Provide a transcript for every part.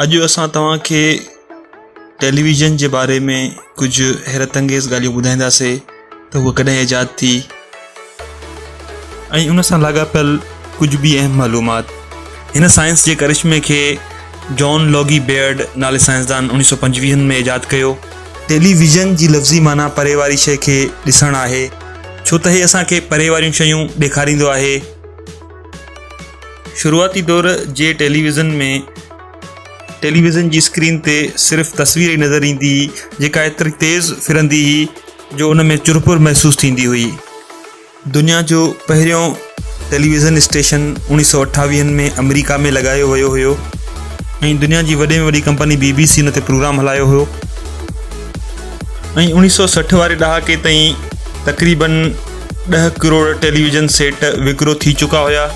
اڄ اسان توهان کي ٽيليويزن جي باري ۾ ڪجهه حيرت انگيز ڳالهيون ٻڌائينداسي ته هو ڪڏهن ايجاد ٿي ۽ ان سان لاڳاپيل ڪجهه به اهم معلومات هن سائنس جي ڪرشمي کي جان لوگي بيئرڊ نالي سائنسدان انيس سو پنجويهن ۾ ايجاد ڪيو ٽيليويزن جي لفظي معنيٰ پري واري شيء کي ڏسڻ آهي ڇو ته هي اسان کي پري واريون شيون ڏيکاريندو آهي. شروعاتي دور جي ٽيليويزن ۾ ٽيليويزن جي اسڪرين تي صرف تصوير ئي نظر ايندي هئي جيڪا ايتري تيز ڦرندي هئي جو ان ۾ چرپر محسوس ٿيندي هئي. دنيا جو پهريون ٽيليويزن اسٽيشن اوڻيھ سؤ اٺاويهن ۾ آمريڪا ۾ لڳايو ويو هيو ۽ دنيا جي وڏي ۾ وڏي ڪمپني بي بي سي ان تي پروگرام هلايو هيو ۽ اوڻيھ سؤ سٺ واري ڏهاڪي تائين تقريبن ڏهه ڪروڙ ٽيليويزن سيٽ وڪرو ٿي چڪا هيا.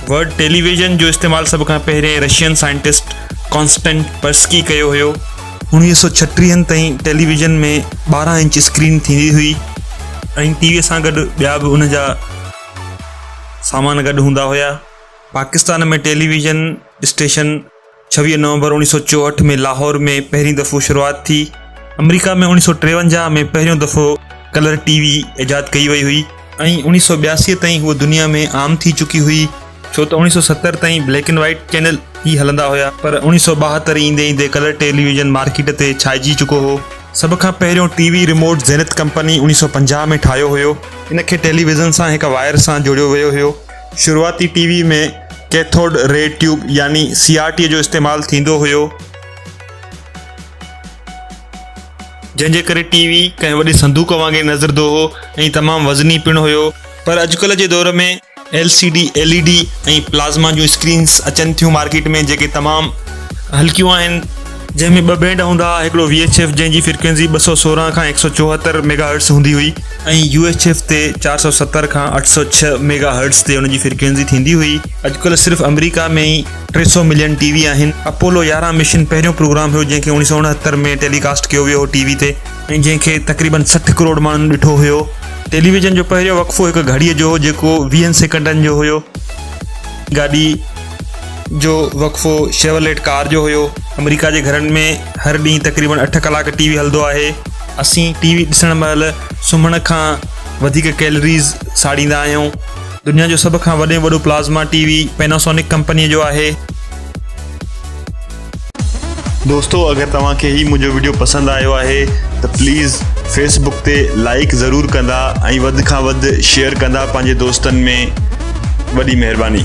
ورڊ ٽيليويزن جو استعمال سڀ کان پهرين رشين سائنٽسٽ ڪانسٽنٽ پرسڪي ڪيو هيو. اوڻيھ سؤ ڇٽيهن تائين ٽيليويزن ۾ ٻارهن انچ اسڪرين ٿيندي هئي ۽ ٽي وي سان گڏ ٻيا به ان جا سامان گڏ هوندا هيا. پاڪستان ۾ ٽيلي ويزن اسٽيشن ڇويهه نومبر اوڻيهه سؤ چوهٺ ۾ لاهور ۾ پهرين دفعو شروعات ٿي. آمريڪا ۾ اوڻيهه سؤ ٽيونجاهه ۾ پهريون دفعو ڪلر ٽي وي ايجاد ڪئي وئي هئي. ۽ اوڻيهه سؤ ٻياسي تائين هوء دنيا ۾ عام ٿي چڪي هئي. ڇو ته اوڻيهه سؤ ستر تائين بليڪ اينڊ وائيٽ چينل ئي هلندا هيا پر اوڻيهه سؤ ٻاهتر ايندي ايندي ڪلر ٽيلي ويزن مارڪيٽ تي ڇائجي چڪو هو. سڀ کان پهريون TV remote Zenith company اوڻيهه سؤ پنجاهه ۾ ٺاهيو هيو. ان کي ٽيلي ويزن سان هڪ وائر سان جوڙيو ويو هيو. شروعاتي T V ۾ cathode ray tube يعني سي آر ٽي جو استعمال ٿيندو هيو. جنهن جي ڪري ٽي وي ڪنهن وڏي صندوق وانگي نظردو هو ۽ تمام وزني پڻ هيو. پر اڄڪلهه جي دور ۾ L C D, L E D ۽ plasma جون اسڪرينز اچن ٿيون مارڪيٽ ۾ جيڪي تمام هلڪيون آهن، جنهن ۾ ٻه بينڊ هوندا ها هڪڙو وي ايڇ ايف جنهن جي فرڪوينسي ٻه سؤ سورهن کان هڪ سؤ چوهتر ميگا هرٽز هوندي هئي ۽ يو ايڇ ايف تي چار سؤ ستر کان اٺ سؤ ڇهه ميگا هرٽز تي ان جي فرڪوينسي ٿيندي هئي اڄڪلهه صرف آمريڪا ۾ ئي ٽي سؤ ملين ٽي وي آهن. اپولو يارهن مشن پهريون پروگرام هيو جنهن کي اوڻيهه سؤ اڻهتر ۾ ٽيلي ڪاسٽ ڪيو ويو هو ٽي وي تي. ۽ جنهن کي تقريبن سٺ ڪروڙ ماڻهن ڏٺو هيو. ٽيلي ويزن جو پهريون وقفو هڪ گهڙيء جو هو جيڪو ويهن سيڪنڊن جو هيو. گاڏي جو وقفو شيورليٽ ڪار جو هيو. آمريڪا جي گهرن ۾ هر ڏينهن تقريبن اٺ ڪلاڪ ٽي وي هلندو آهي. اسين ٽي وي ڏسڻ مهل سمهڻ کان وڌيڪ ڪيلريز ساڙيندا آهيون. دنيا جو سڀ کان وڏ ۾ وڏو پلازما ٽي وي پيناسونڪ ڪمپنيء جو آهي. دوستو اگر توهان کي هي منهنجو وڊيو پسند آيو آهي ته پليز فيس بڪ تي لائيڪ ضرور ڪندا ۽ وڌ کان وڌ شيئر ڪندا پنهنجي دوستن ۾ وڏي مهرباني.